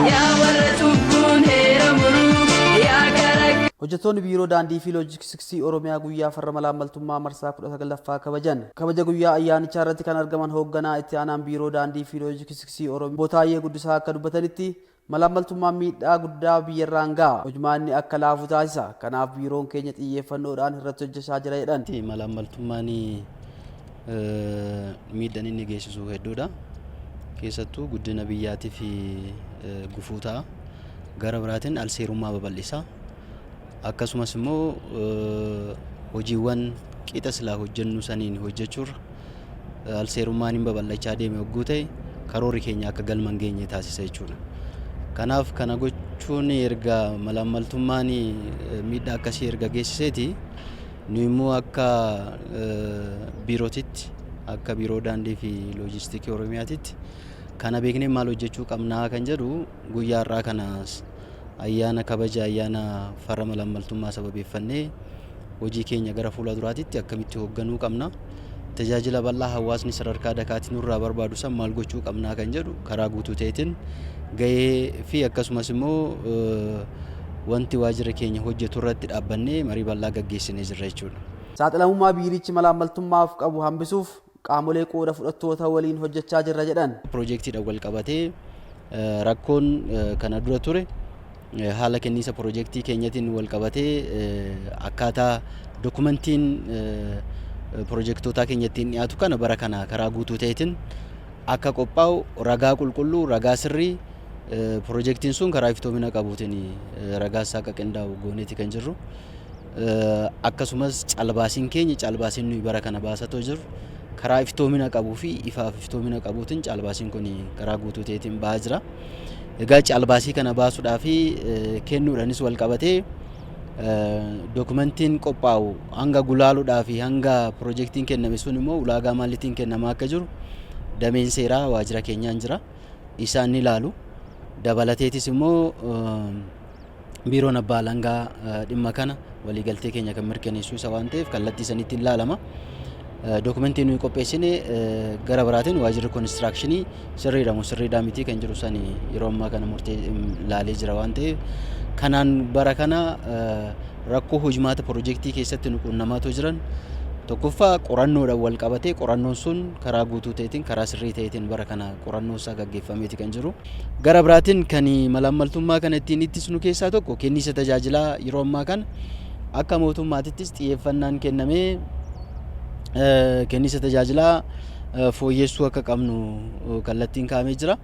Yaa warra cubbuun heera muruu, yaa gara Hojjettoonni Biiroo Daandii fi Loojistiksii Oromiyaa guyyaa farra malaammaltummaa marsaa 19ffaa kabajan. Kabaja guyyaa ayyaanichaa irratti kan argaman hoogganaa itti aanaan Biiroo Daandii fi Loojistiksii Oromiyaa Obbo Taayyee Guddisaa akka dubbatanitti Malaammaltummaan miidhaa guddaa biyyarraan gaha. Hojmaanni akka laafu taasisa. Kanaaf biiroon keenya xiyyeeffannoodhaan irratti hojjechaa jira jedhan. Malaammaltummaan miidhaan inni geessisu hedduudha. Keessattuu guddina biyyaatiif gufuu ta'a. Gara biraatiin alseerummaa babal'isa. Akkasumas immoo hojiiwwan qixa silaa hojjennu saniin hojjechuurra alseerummaan hin babal'achaa deeme hogguu ta'e karoorri keenya akka galma hin geenye taasisa jechuudha. Kanaaf kana gochuun erga malaammaltummaan miidhaa akkasii erga geessiseeti nu immoo akka biirootitti akka biiroo daandii fi loojistiikii Oromiyaatitti kana beeknee maal hojjechuu qabnaa kan jedhu guyyaa har'aa kanas ayyaana kabaja ayyaana farra malaammaltummaa sababeeffannee hojii keenya gara fuula duraatitti akkamitti hoogganuu qabna tajaajila bal'aa hawaasni sadarkaa dakaatti nurraa barbaadu san maal gochuu qabnaa kan jedhu karaa guutuu ta'eetiin gahee fi akkasumas immoo wanti waajjira keenya hojjetu irratti dhaabbannee marii bal'aa gaggeessinee jirra jechuudha. Saaxilamummaa biirichi malaammaltummaaf qabu hambisuuf qaamolee qooda fudhattoota waliin hojjechaa jirra jedhan. Piroojeektiidhaan walqabatee rakkoon kana dura ture haala kenniinsa piroojeektii keenyatiin walqabatee akkaataa dokumentiin piroojeektootaa keenya ittiin dhiyaatu kana bara kana karaa guutuu ta'eetiin akka qophaa'u ragaa qulqulluu ragaa sirrii piroojeektiin sun karaa iftoomina qabuutiin ragaa isaa akka qindaa'u gooneeti kan jirru. akkasumas caalbaasiin keenya caalbaasiin nuyi bara kana baasatoo jirru karaa iftoomina qabuu fi ifaaf iftoomina qabuutiin caalbaasiin kun karaa guutuu ta'eetiin ba'aa jira. Egaa caalbaasii kana baasuudhaa fi kennuudhaanis wal qabatee dookumentiin qophaa'u hanga gulaaluudhaa fi hanga pirojektiin kenname sun immoo ulaagaa maaliitiin kennamaa akka jiru dameen seeraa waajjira keenyaan jira. Isaan ni ilaalu. Dabalateetis immoo Biiroon Abbaa Alangaa dhimma kana waliigaltee keenya kan mirkaneessu isa waan ta'eef kallattii sanitti hin laalama. Dookumentii nuyi qopheessine gara biraatiin waajirri konistiraakshinii sirriidha moo sirriidhaa mitii kan jiru sani yeroo ammaa kana murtee laalee jira waan ta'eef kanaan bara kana rakkoo hojmaata pirojektii keessatti nu quunnamaatoo jiran tokkoffaa qorannoodhaan wal qabatee qorannoon sun karaa guutuu ta'eetiin karaa sirrii ta'eetiin bara kana qorannoo isaa gaggeeffameeti kan jiru. Gara biraatiin kan malaammaltummaa kana ittiin ittisnu keessaa tokko kenniisa tajaajilaa yeroo ammaa kana akka mootummaatittis xiyyeeffannaan kennamee kenniisa tajaajilaa fooyyessuu akka qabnu kallattiin kaa'amee jira.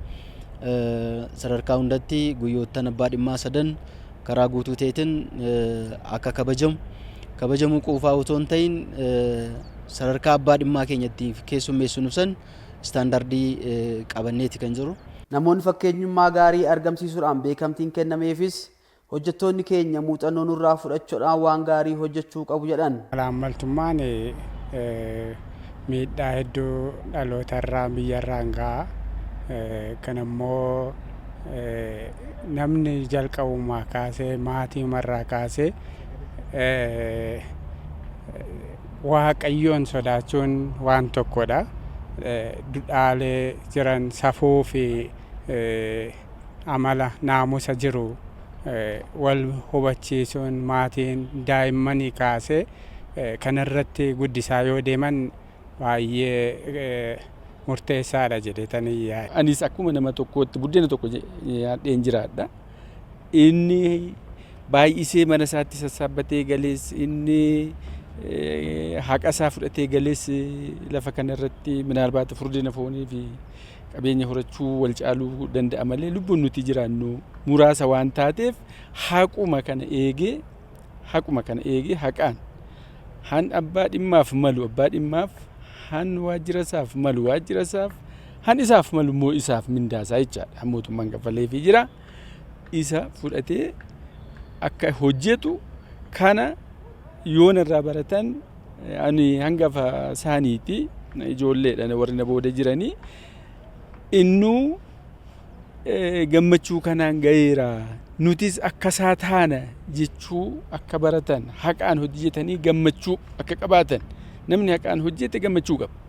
Sadarkaa hundatti guyyoottan abbaa dhimmaa sadan karaa guutuu ta'eetiin akka kabajamu kabajamuu quufaa otoo hin ta'in sadarkaa abbaa dhimmaa keenya ittiin keessummeessinu san istaandardii qabanneeti kan jirru. Namoonni fakkeenyummaa gaarii argamsiisuudhaan beekamtiin kennameefis hojjettoonni keenya muuxannoo nurraa fudhachuudhaan waan gaarii hojjechuu qabu jedhan. Malaammaltummaan miidhaa hedduu dhalootarraan, biyyarraan gaha. Kanammoo namni jalqabumaa kaasee maatiimarraa kaasee. Waaqayyoon sodaachuun waan tokkodha. Dudhaalee jiran safuu fi amala naamusa jiru wal hubachiisuun maatiin daa'immanii kaasee kanarratti guddisaa yoo deeman baay'ee murteessaadha jedheetanii yaada. Anis akkuma nama tokkootti buddeena tokko nyaadheen jiraadha. inni baay'isee mana isaatti sassaabbatee galees inni haqa isaa fudhatee galees lafa kana irratti minaalbaata furdina foonii fi qabeenya horachuu wal caaluu danda'a malee lubbuun nuti jiraannu muraasa waan taateef haquma kana eegee haquma kana eegee haqaan han abbaa dhimmaaf malu abbaa dhimmaaf han waajjira isaaf malu waajjira isaaf Han isaaf malu immoo isaaf mindaa isaa jechaadha. Han mootummaan kaffaleefii jira. Isa fudhatee akka hojjetu kana yoona irraa baratan ani hangafa isaaniiti ijoolleedha warri na booda jiranii innuu gammachuu kanaan gaheera nutis akka isaa taana jechuu akka baratan haqaan hojjetanii gammachuu akka qabaatan namni haqaan hojjete gammachuu qaba.